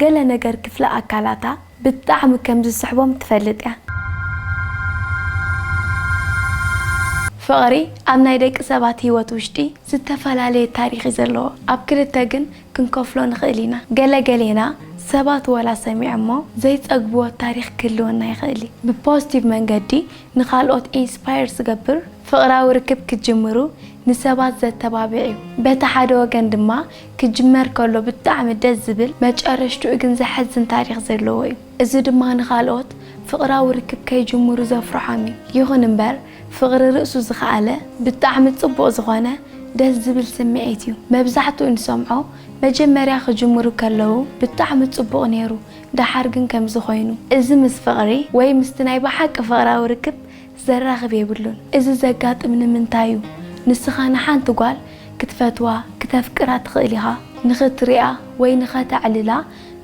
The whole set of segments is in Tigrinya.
ገለ ነገር ክፍሊ ኣካላታ ብጣዕሚ ከም ዝስሕቦም ትፈልጥ እያ። ፍቕሪ ኣብ ናይ ደቂ ሰባት ህይወት ውሽጢ ዝተፈላለየ ታሪኽ እዩ ዘለዎ። ኣብ ክልተ ግን ክንከፍሎ ንኽእል ኢና። ገለ ገሌና ሰባት ወላ ሰሚዖሞ ዘይጸግብዎ ታሪኽ ክህልወና ይኽእል እዩ። ብፖዝቲቭ መንገዲ ንኻልኦት ኢንስፓየር ዝገብር ፍቕራዊ ርክብ ክትጅምሩ ንሰባት ዘተባብዕ እዩ። በቲ ሓደ ወገን ድማ ክጅመር ከሎ ብጣዕሚ ደስ ዝብል መጨረሽትኡ ግን ዘሕዝን ታሪኽ ዘለዎ እዩ። እዚ ድማ ንኻልኦት ፍቕራዊ ርክብ ከይጅምሩ ዘፍርሖም እዩ። ይኹን እምበር ፍቕሪ ርእሱ ዝኸኣለ ብጣዕሚ ጽቡቕ ዝኾነ ደስ ዝብል ስምዒት እዩ። መብዛሕትኡ ንሰምዖ መጀመርያ ክጅምሩ ከለዉ ብጣዕሚ ጽቡቕ ኔሩ ደሓር ግን ከምዚ ኮይኑ። እዚ ምስ ፍቕሪ ወይ ምስቲ ናይ ብሓቂ ፍቕራዊ ርክብ ዘራኽብ የብሉን እዚ ዘጋጥም ንምንታይ እዩ ንስኻ ንሓንቲ ጓል ክትፈትዋ ክተፍቅራ ትኽእል ኢኻ ንኽትሪኣ ወይ ንኸተዕልላ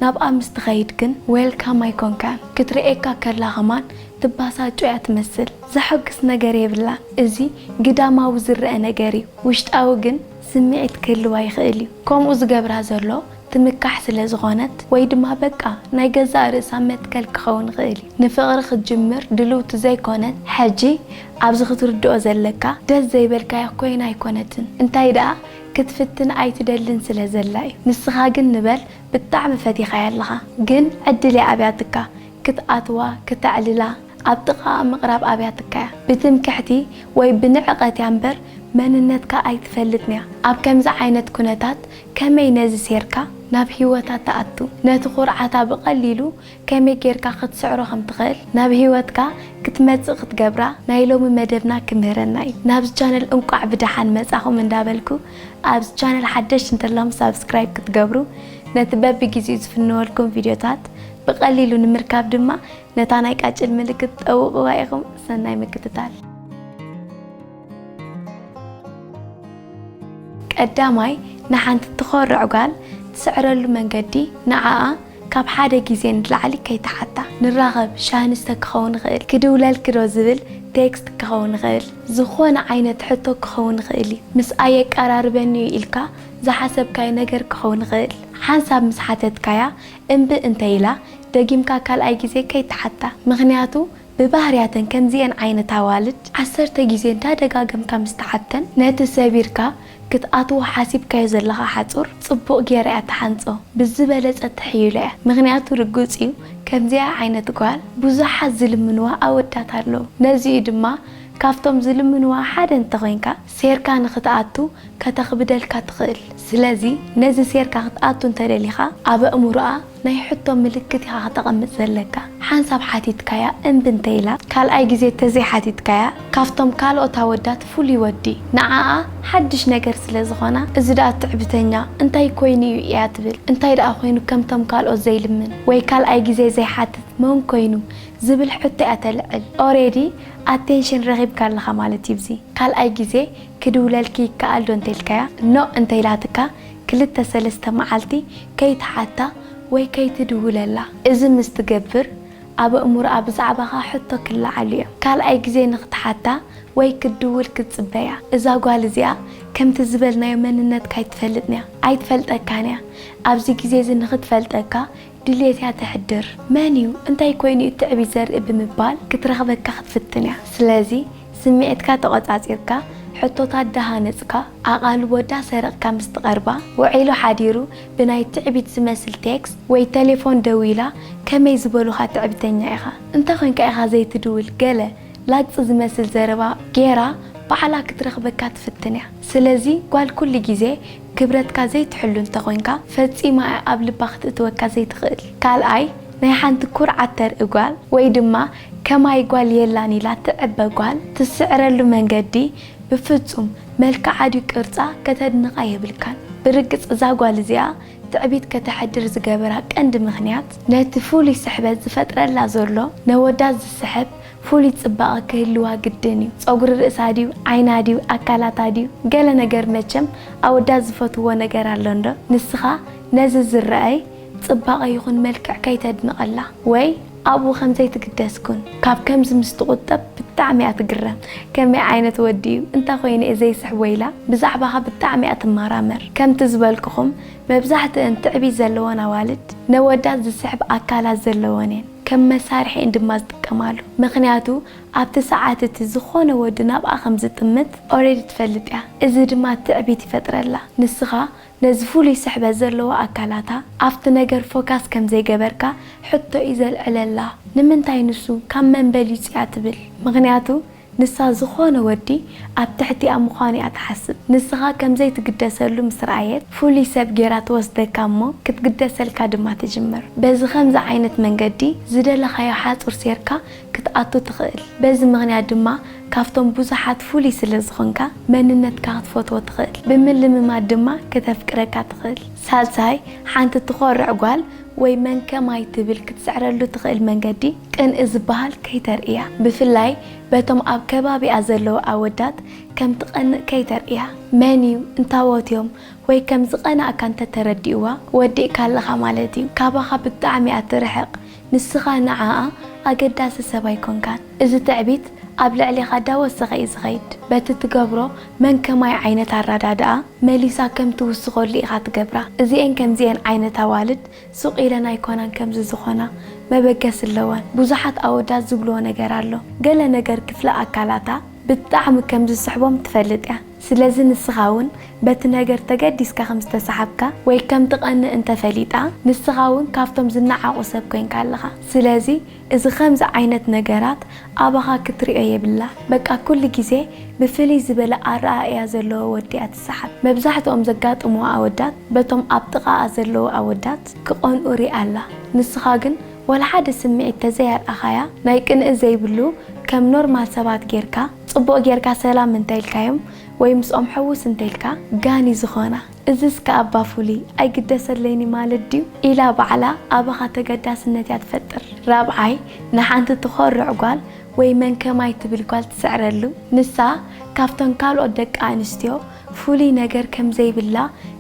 ናብኣ ምስ ትኸይድ ግን ዌልካም ኣይኮንካን ክትሪኤካ ከላ ከማን ትባሳጮ እያ ትመስል ዘሖግስ ነገር የብላን እዚ ግዳማዊ ዝረኣ ነገር እዩ ውሽጣዊ ግን ስሚዒት ክህልዋ ይኽእል እዩ ከምኡ ዝገብራ ዘሎ ትምካሕ ስለ ዝኾነት ወይ ድማ በቃ ናይ ገዛእ ርእሳ መትከል ክኸውን ይኽእል እዩ ንፍቕሪ ክትጅምር ድልውቲ ዘይኮነት ሕጂ ኣብዚ ክትርድኦ ዘለካ ደስ ዘይበልካዮ ኮይና ኣይኮነትን እንታይ ደኣ ክትፍትን ኣይትደልን ስለ ዘላ እዩ ንስኻ ግን ንበል ብጣዕሚ ፈቲኻያ ኣለኻ ግን ዕድል እያ ኣብያትካ ክትኣትዋ ክተዕልላ ኣብ ጥቓኣ ምቕራብ ኣብያትካ እያ ብትምክሕቲ ወይ ብንዕቐት እያ እምበር መንነትካ ኣይትፈልጥንያ ኣብ ከምዚ ዓይነት ኩነታት ከመይ ነዚ ሴርካ ናብ ህይወታ ትኣቱ፣ ነቲ ኩርዓታ ብቐሊሉ ከመይ ጌርካ ክትስዕሮ ከም ትኽእል፣ ናብ ህይወትካ ክትመጽእ ክትገብራ ናይ ሎሚ መደብና ክምህረና እዩ። ናብዚ ቻነል እንቋዕ ብደሓን መጻኹም እንዳበልኩ ኣብዚ ቻነል ሓደሽቲ እንተለኹም ሳብስክራይብ ክትገብሩ ነቲ በብጊዜኡ ዝፍነወልኩም ቪድዮታት ብቐሊሉ ንምርካብ ድማ ነታ ናይ ቃጭል ምልክት ጠውቕዋ ኢኹም። ሰናይ ምክትታል። ቀዳማይ ንሓንቲ ትኾርዕ ጓል ትስዕረሉ መንገዲ ንዓኣ ካብ ሓደ ግዜ ንላዕሊ ከይትሓታ። ንራኸብ ሻሂ ንስተ ክኸውን ይኽእል፣ ክድውለልኪ ዶ ዝብል ቴክስት ክኸውን ይኽእል፣ ዝኾነ ዓይነት ሕቶ ክኸውን ይኽእል እዩ። ምስኣ የቀራርበኒ እዩ ኢልካ ዝሓሰብካዮ ነገር ክኸውን ይኽእል። ሓንሳብ ምስ ሓተትካያ እምቢ እንተኢላ፣ ደጊምካ ካልኣይ ግዜ ከይትሓታ። ምኽንያቱ ብባህርያተን ከምዚኤን ዓይነት ኣዋልድ ዓሰርተ ግዜ እንዳደጋገምካ ምስ ተዓተን ነቲ ሰቢርካ ክትኣትዎ ሓሲብካዮ ዘለኻ ሓጹር ጽቡቕ ጌራ እያ ትሓንጾ ብዝበለጸ ትሕይሎ እያ ምኽንያቱ ርግጽ እዩ ከምዚኣ ዓይነት ጓል ብዙሓት ዝልምንዋ ኣወዳት ኣለዉ ነዚ እዩ ድማ ካብቶም ዝልምንዋ ሓደ እንተኾይንካ ሴርካ ንኽትኣቱ ከተኽብደልካ ትኽእል ስለዚ ነዚ ሴርካ ክትኣቱ እንተደሊኻ ኣብ ኣእምሮኣ ናይ ሕቶ ምልክት ኢኻ ክተቐምጥ ዘለካ። ሓንሳብ ሓቲትካያ እምቢ እንተኢላ፣ ካልኣይ ግዜ ተዘይ ሓቲትካያ፣ ካብቶም ካልኦት ኣወዳት ፍሉይ ወዲ፣ ንዓኣ ሓድሽ ነገር ስለ ዝኾና፣ እዚ ድኣ ትዕብተኛ፣ እንታይ ኮይኑ እዩ እያ ትብል፣ እንታይ ድኣ ኮይኑ ከምቶም ካልኦት ዘይልምን፣ ወይ ካልኣይ ግዜ ዘይሓትት መን ኮይኑ፣ ዝብል ሕቶ እያ ተልዕል። ኦሬዲ ኣቴንሽን ረኺብካ ኣለኻ ማለት እዩ ብዚ። ካልኣይ ግዜ ክድውለልኪ ይከኣል ዶ እንተኢልካያ፣ ኖእ እንተኢላትካ፣ ክልተ ሰለስተ መዓልቲ ከይትሓታ ወይ ከይትድውለላ እዚ ምስ ትገብር ኣብ ኣእምሮኣ ብዛዕባኻ ሕቶ ክለዓልዮ ካልኣይ ግዜ ንኽትሓታ ወይ ክትድውል ክትጽበያ እዛ ጓል እዚኣ ከምቲ ዝበልናዮ መንነትካ ኣይትፈልጥንያ ኣይትፈልጠካንያ ኣብዚ ግዜዚ ንኽትፈልጠካ ድልየትያ ተሕድር መንዩ እንታይ ኮይኑዩ ትዕቢት ዘርኢ ብምባል ክትረኽበካ ክትፍትንያ ስለዚ ስምዒትካ ተቖጻጺርካ፣ ሕቶታት ዳሃነጽካ፣ ኣቓልቦ ዳሰረቕካ ምስ ትቐርባ፣ ውዒሉ ሓዲሩ ብናይ ትዕቢት ዝመስል ቴክስት ወይ ተሌፎን ደዊላ ከመይ ዝበሉኻ ትዕቢተኛ ኢኻ፣ እንተ ኾንካ ኢኻ ዘይትድውል ገለ ላግጺ ዝመስል ዘረባ ጌራ ባዕላ ክትረኽበካ ትፍትን እያ። ስለዚ ጓል ኩሉ ግዜ ክብረትካ ዘይትሕሉ እንተ ኾንካ፣ ፈጺማ እያ ኣብ ልባ ክትእትወካ ዘይትኽእል። ካልኣይ፣ ናይ ሓንቲ ኩርዓት ተርኢ ጓል ወይ ድማ ከማይ ጓል የላን ኢላ ትዕበ ጓል ትስዕረሉ መንገዲ ብፍጹም መልክዓ ድዩ ቅርጻ ከተድንቃ የብልካን ብርግጽ እዛ ጓል እዚኣ ትዕቢት ከተሕድር ዝገበራ ቀንዲ ምክንያት ነቲ ፍሉይ ስሕበት ዝፈጥረላ ዘሎ ነወዳት ዝስሕብ ፍሉይ ጽባቀ ክህልዋ ግድን እዩ ጸጉሪ ርእሳ ድዩ ዓይና ድዩ ኣካላታ ድዩ ገለ ነገር መቸም ኣወዳት ዝፈትውዎ ነገር ኣሎ እንዶ ንስካ ነዚ ዝረኣይ ጽባቀ ይኩን መልክዕ ከይተድንቀላ ወይ ኣብኡ ከም ዘይትግደስ ኩን። ካብ ከምዚ ምስ ትቁጠብ ብጣዕሚ እያ ትግረም ከመይ ዓይነት ወዲ እዩ እንታይ ኮይኑ እየ ዘይስሕቦ ኢላ ብዛዕባኻ ብጣዕሚ እያ ትማራመር ከምቲ ዝበልኩኹም መብዛሕትእን ትዕቢት ዘለወን ኣዋልድ ነወዳት ዝስሕብ ኣካላት ዘለወን እየን ከም መሳርሒ እየን ድማ ዝጥቀማሉ ምኽንያቱ ኣብቲ ሰዓት እቲ ዝኾነ ወዲ ናብኣ ከም ዝጥምት ኦሬዲ ትፈልጥ እያ እዚ ድማ ትዕቢት ይፈጥረላ ንስኻ ነዚ ፍሉይ ስሕበት ዘለዎ ኣካላታ ኣብቲ ነገር ፎካስ ከም ዘይገበርካ ሕቶ እዩ ዘልዕለላ ንምንታይ ንሱ ካብ መን በሊጹ እያ ትብል ምኽንያቱ ንሳ ዝኾነ ወዲ ኣብ ትሕቲኣ ምዃኑ እያ ትሓስብ ንስኻ ከም ዘይትግደሰሉ ምስ ረኣየት ፍሉይ ሰብ ጌራ ትወስደካ እሞ ክትግደሰልካ ድማ ትጅምር በዚ ከምዚ ዓይነት መንገዲ ዝደለኻዮ ሓጹር ሴርካ ክትኣቱ ትኽእል። በዚ ምኽንያት ድማ ካብቶም ብዙሓት ፍሉይ ስለ ዝኾንካ መንነትካ ክትፈትዎ ትኽእል። ብምልምማድ ድማ ክተፍቅረካ ትኽእል። ሳልሳይ፣ ሓንቲ ትኾርዕ ጓል ወይ መን ከማይ ትብል ክትስዕረሉ ትኽእል መንገዲ ቅንኢ ዝበሃል ከይተርእያ። ብፍላይ በቶም ኣብ ከባቢኣ ዘለዉ ኣወዳት ከም ትቐንእ ከይተርእያ። መን እዩ፣ እንታዎት እዮም ወይ ከም ዝቐናእካ እንተ ተረዲእዋ ወዲእካ ኣለኻ ማለት እዩ። ካባኻ ብጣዕሚ እያ ትርሕቕ። ንስኻ ንዓኣ ኣገዳሲ ሰብ ኣይኮንካን። እዚ ትዕቢት ኣብ ልዕሌኻ ዳወሰኸ እዩ ዝኸይድ። በቲ ትገብሮ መን ከማይ ዓይነት ኣራዳድኣ መሊሳ ከም ትውስኸሉ ኢኻ ትገብራ። እዚኤን ከምዚኤን ዓይነት ኣዋልድ ሱቕ ኢለን ኣይኮናን ከምዚ ዝኾና። መበገሲ ኣለወን። ብዙሓት ኣወዳት ዝብልዎ ነገር ኣሎ። ገለ ነገር ክፍሊ ኣካላታ ብጣዕሚ ከም ዝስሕቦም ትፈልጥ እያ። ስለዚ ንስኻ እውን በቲ ነገር ተገዲስካ ከም ዝተሰሓብካ ወይ ከም ትቐንእ እንተ ፈሊጣ፣ ንስኻ እውን ካብቶም ዝነዓቑ ሰብ ኮይንካ ኣለኻ። ስለዚ እዚ ከምዚ ዓይነት ነገራት ኣባኻ ክትርእዮ የብላ። በቃ ኩሉ ግዜ ብፍልይ ዝበለ ኣረኣእያ ዘለዎ ወዲ እያ ትሰሓብ። መብዛሕትኦም ዘጋጥምዋ ኣወዳት በቶም ኣብ ጥቓኣ ዘለዉ ኣወዳት ክቐንኡ ሪኣ ኣላ። ንስኻ ግን ዋላ ሓደ ስምዒት ተዘይ ኣርኣኻያ ናይ ቅንኢ ዘይብሉ ከም ኖርማል ሰባት ጌርካ፣ ጽቡቅ ጌርካ ሰላም እንተ ኢልካዮም ወይ ምስኦም ሕውስ እንተ ኢልካ ጋን እዩ ዝኮና እዝስ ከኣ እባ ፍሉይ ኣይግደሰለይንዩ ማለት ድዩ ኢላ ባዕላ ኣባካ ተገዳስነት እያ ትፈጥር ራብዓይ ንሓንቲ ትኮርዕ ጓል ወይ መን ከማይ ትብል ጓል ትስዕረሉ ንሳ ካብተን ካልኦት ደቂ ኣንስትዮ ፍሉይ ነገር ከም ዘይብላ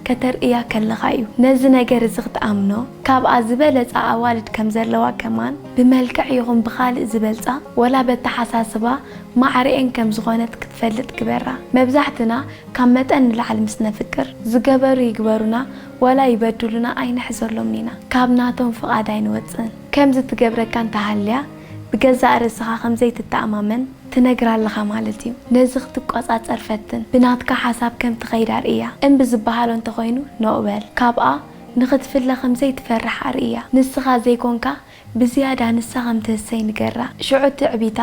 ከተርእያ ከለኻ እዩ ነዚ ነገር እዚ ክትኣምኖ። ካብኣ ዝበለጻ ኣዋልድ ከም ዘለዋ ከማን ብመልክዕ ይኹን ብኻልእ ዝበልጻ ወላ በተሓሳስባ ማዕረኤን ከም ዝኾነት ክትፈልጥ ግበራ። መብዛሕትና ካብ መጠን ንላዕሊ ምስ ነፍቅር ዝገበሩ ይግበሩና ወላ ይበድሉና ኣይንሕዘሎምን ኢና። ካብ ናቶም ፍቓድ ኣይንወጽእን። ከምዚ ትገብረካ እንተሃልያ ብገዛእ ርእስኻ ከም ዘይትተኣማመን፣ ትነግራ ኣለኻ ማለት እዩ ነዚ ክትቆጻጸር ፈትን ብናትካ ሓሳብ ከም ትኸይድ ኣርእያ እምቢ ዝበሃሎ እንተኾይኑ ኖእ በል ካብኣ ንኽትፍለ ከምዘይ ትፈርሕ ኣርእያ ንስኻ ዘይኮንካ ብዝያዳ ንሳ ከም ትህሰይ ንገራ ሽዑ ትዕቢታ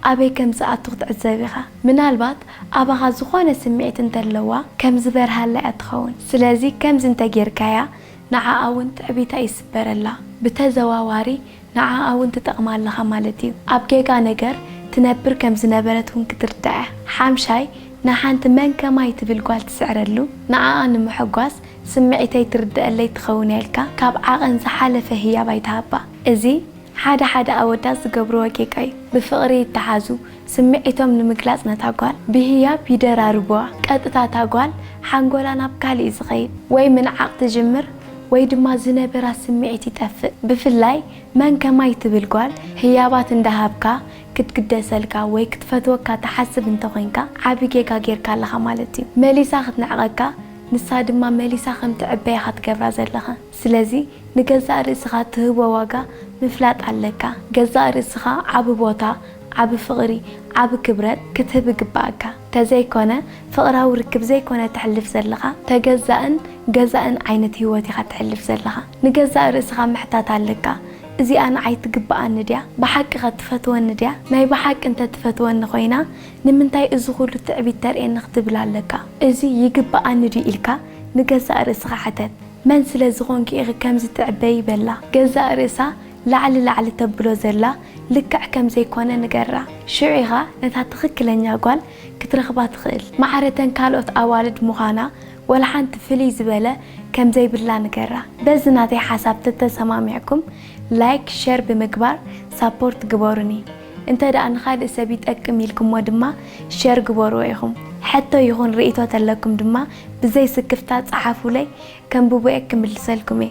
ኣበይ ከም ዝኣቱ ክትዕዘብ ኢኻ ምናልባት ኣባኻ ዝኾነ ስምዒት እንተለዋ ከም ዝበርሃላ እያ ትኸውን ስለዚ ከምዚ እንተጌርካያ ንዓኣ ውን ትዕቢታ ይስበረላ ብተዘዋዋሪ ንዓኣ ውን ትጠቕማ ኣለኻ ማለት እዩ። ኣብ ጌጋ ነገር ትነብር ከም ዝነበረት ውን ክትርዳኣ። ሓምሻይ ንሓንቲ መን ከማይ ትብል ጓል ትስዕረሉ ንዓኣ ንምሕጓስ ስምዒተይ ትርደኣለይ ትኸውን እያ ኢልካ ካብ ዓቐን ዝሓለፈ ህያብ ኣይትሃባ። እዚ ሓደ ሓደ ኣወዳት ዝገብርዎ ጌጋ እዩ። ብፍቕሪ ይተሓዙ፣ ስምዒቶም ንምግላጽ ነታ ጓል ብህያብ ይደራርቡዋ። ቀጥታ እታ ጓል ሓንጎላ ናብ ካልእ እዩ ዝኸይድ። ወይ ምንዓቕ ትጅምር ወይ ድማ ዝነበራ ስምዒት ይጠፍእ። ብፍላይ መን ከማይ ትብል ጓል ህያባት እንዳሃብካ ክትግደሰልካ ወይ ክትፈትወካ ትሓስብ እንተኾይንካ ዓቢ ጌጋ ጌርካ ኣለኻ ማለት እዩ። መሊሳ ክትንዕቐካ ንሳ ድማ መሊሳ ከም ትዕበይ ኢኻ ትገብራ ዘለኻ። ስለዚ ንገዛእ ርእስኻ ትህቦ ዋጋ ምፍላጥ ኣለካ። ገዛእ ርእስኻ ዓቢ ቦታ፣ ዓቢ ፍቕሪ፣ ዓቢ ክብረት ክትህብ ይግበኣካ። ተዘይኮነ ፍቕራዊ ርክብ ዘይኮነ ተሕልፍ ዘለኻ ተገዛእን ገዛእን ዓይነት ህይወት ኢኻ ተሕልፍ ዘለኻ። ንገዛእ ርእስኻ ምሕታት ኣለካ እዚኣ ንዓይ ትግበኣኒ ድያ? ብሓቂኸ ትፈትወኒ ድያ? ናይ ብሓቂ እንተ ትፈትወኒ ኮይና ንምንታይ እዚ ኩሉ ትዕቢት ተርእየኒ ክትብል ኣለካ። እዚ ይግበኣኒ ድዩ ኢልካ ንገዛእ ርእስኻ ሕተት። መን ስለ ዝኾንኪ ኢኺ ከምዚ ትዕበዪ በላ ገዛእ ርእሳ ላዕሊ ላዕሊ ተብሎ ዘላ ልክዕ ከም ዘይኮነ ንገራ ሽዑ ኢኻ ነታ ትኽክለኛ ጓል ክትረኽባ ትኽእል ማዕረተን ካልኦት ኣዋልድ ምዃና ወላሓንቲ ፍልይ ዝበለ ከም ዘይብላ ንገራ በዚ ናተይ ሓሳብ ተተሰማሚዕኩም ላይክ ሸር ብምግባር ሳፖርት ግበሩኒ እንተ ደኣ ንኻልእ ሰብ ይጠቅም ኢልኩሞ ድማ ሸር ግበርዎ ኢኹም። ሕቶ ይኹን ርእይቶ ተለኩም ድማ ብዘይ ስክፍታ ጸሓፉለይ ከንብቦ'የ ክምልሰልኩም'የ።